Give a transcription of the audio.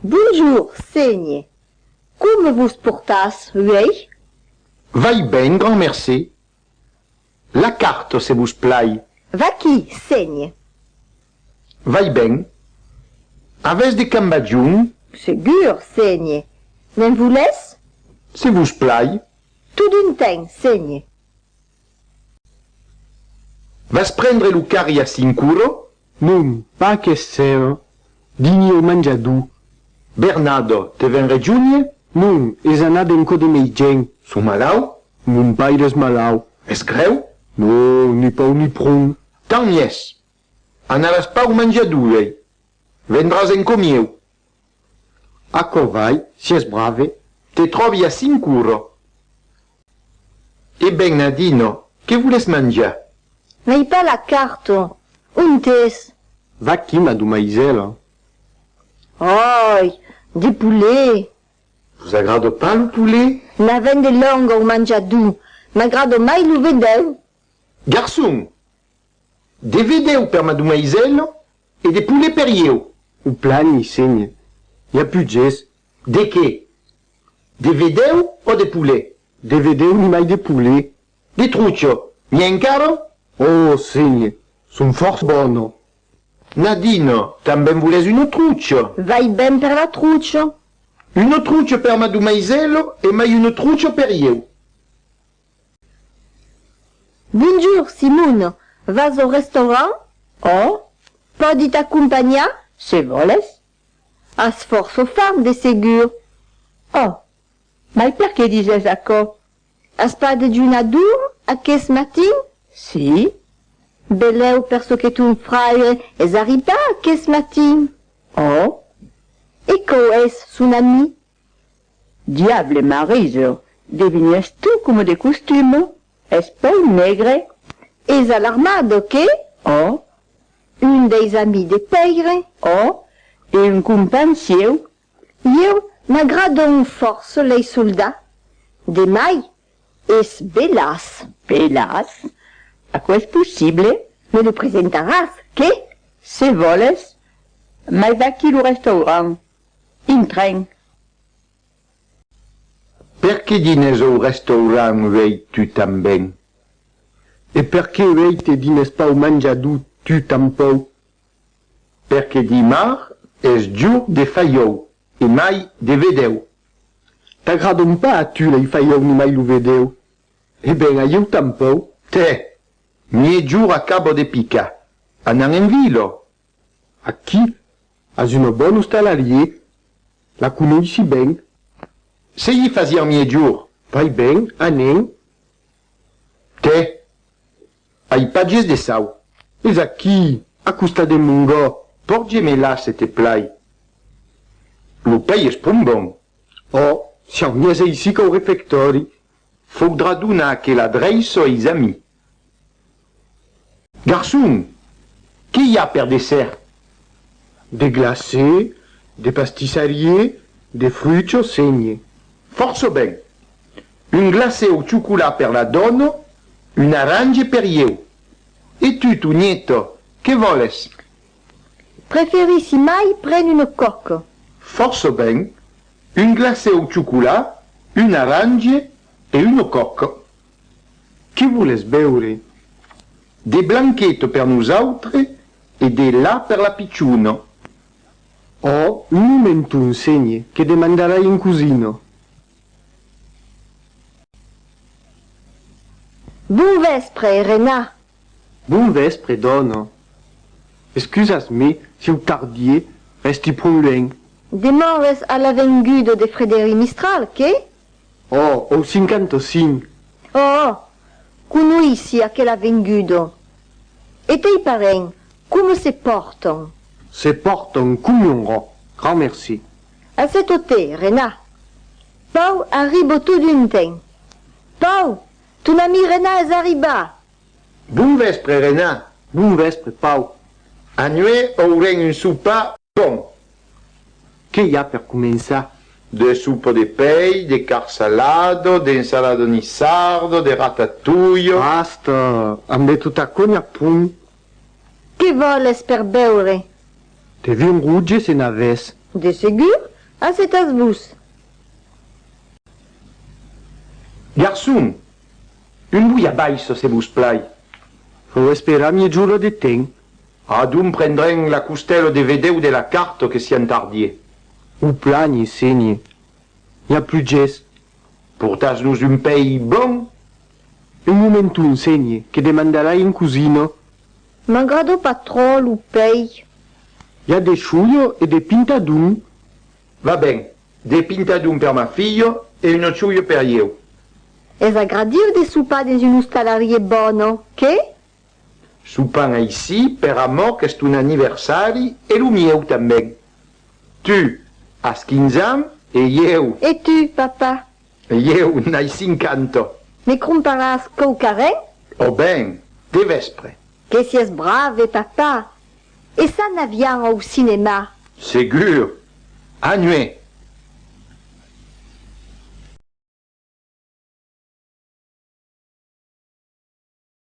Bonjour, senhe. Coma vos portatz uèi? Vai ben, grand mercé. La carta, se vos plai. Vaquí, senhe. Vai ben. Avètz de cambagion? Segur, senhe. Ne'n volètz? Se vos plai. Totun ten, senhe. Vas prendre lo carri a Sincuro? Non, pas aquesser dini o manjadú. Bernado, te ven rejunhe? Non, es anat en cò de mei gent. Son malau? Mon paire es malau. Es grèu? Non, ni pau ni pron. Tant miès! Anaràs pas o manjadú uèi? Vendràs en cò mieu. Aquò vai, si es brave. Te tròbi a Sincuro. E ben, Nadino, que voles manjar? N'ai pas la carta. Ont es? Vaquí, madomaisèla. Ai! De poulet! Vos agrada pas lo poulet? N'avèm de long au manjar duu, m'agrada mai lo vedèu. Garçon! De vedèu per madumaisèla e de poulet per ieu. O plani, senhe, i a putges. De qué? De vedèu o de poulet? De vedèu nimai de poulet. De trucha, n'i a encara? O, senhe, son fòrç bona. Nadina, tanben volètz una trucha? Vai ben per la trucha. Una trucha per madumaisèla e mai una trucha per ieu. Bonjour, Simon! Vas au restaurant? Oh! Pòdi t'acompanhar? Se vòles. As fòrça fam, de segur. Oh! Mai perqué dises aquò? As pas dejunar dur, aqueth matin? Si. Belèu per çò que ton fraire es arribat aqueth matin. Oh! E quò es son ami? Diable Mariso, devenies tu coma de costumo, es pèu negre? Es alarmado, qué? Oh! Un deis amis de Pèire, oh! E un companh sieu? Ieu m'agradon fòrça lei soldats, de mai, es belas. Belas? Aquò es possible? Me lo presentaràs, qué? Se vòles, mai vaquí lo restaurant. Un tren. Perqué dinés au restaurant uèi tu tanben? E perqué uèi te dinés pas au manjador tu tanpòu? Perqué dimar es jour de faiòu e mai de vedèu. T'agradon pas a tu lei faiòu ni mai lo vedèu? E ben a ieu tanpòu. Tè! Mièjor acabo de picar. Anan en vila, Aquí as una bòn ostalarié, la conoissi ben. Se i fasiá mièjor. Vai ben, anem. Tè, ai patges de sau. Es aquí, a costat de Mongò. Porge-me-la, se te plai. Lo pei es pron bon. Ò, si au mièse aicí qu'au refectòri. Faudrà donar aquela dreisson eis amis. Garçon! Qué i a per dessert? De glacé, de pastissarié, de fruits au seigne. Fòrça ben! Un glacé au chocolat per la dòna, un arrange per ieu. E tu, Tonieta, qué vòles? Preferissi mai pren una coque. Fòrça ben! Un glacé au chocolat, un arrange e una coque. Que voles beure? De blanquet per nosautre e de la per la pichona. Ò un momenton, senhe, que demandarai en cosina. Bon vèspre, Rena. Bon vèspre, dòna. Excusas-me si eu tardie, rèsti pron luènh. Demores a l'avenguda de Frederic Mistral, qué? Ò, au 55. Ò, conoissi aquel avengudo. E tei parents, coma se pòrtan? Se pòrtan com un rò, grand merci. A se totè, Renat. Pau, arribo tot d'un temps. Pau, ton ami Renat es arribat! Bon vèspre, Renat. Bon vèspre, Pau. Anuèi aurem un sopar bon. Qué i a per començar? De soupa de pei, de carn salado, de ensalado nissardo, de ratatouille. Basta! Ambé tota cogna pum! Qué vòles per beure? De vin rouge se n'avès. De segur, assetas-vos. Garçon! Un bouillabaisse se vos plai. Vau esperar mièja ora de temps. Adun prendrem la costèlo de vedèu de la carto que si entardie. O plani, senhi, i a plugés. Portas-nos un pèi bon? Un momenton, senhi, que demandarai en cosino. M'agrado pas trò lo pèi. I a de chulho e de pintadon. Va ben, de pintadon per ma filho e uno chulho per ieu. Es agradiu de sopar dens un ostalarie bòno, qué? Sopan aicí per amor qu'es ton aniversari e lo mieu tanben. Tu, as quinze ans e ieu. E tu, papa? Ieu, n'ai cinquanta. Me cromparàs quauquarren? Ò ben, de vèspre. Que sies brave, papa! E ça n'avián au cinéma? Segur! A nuet!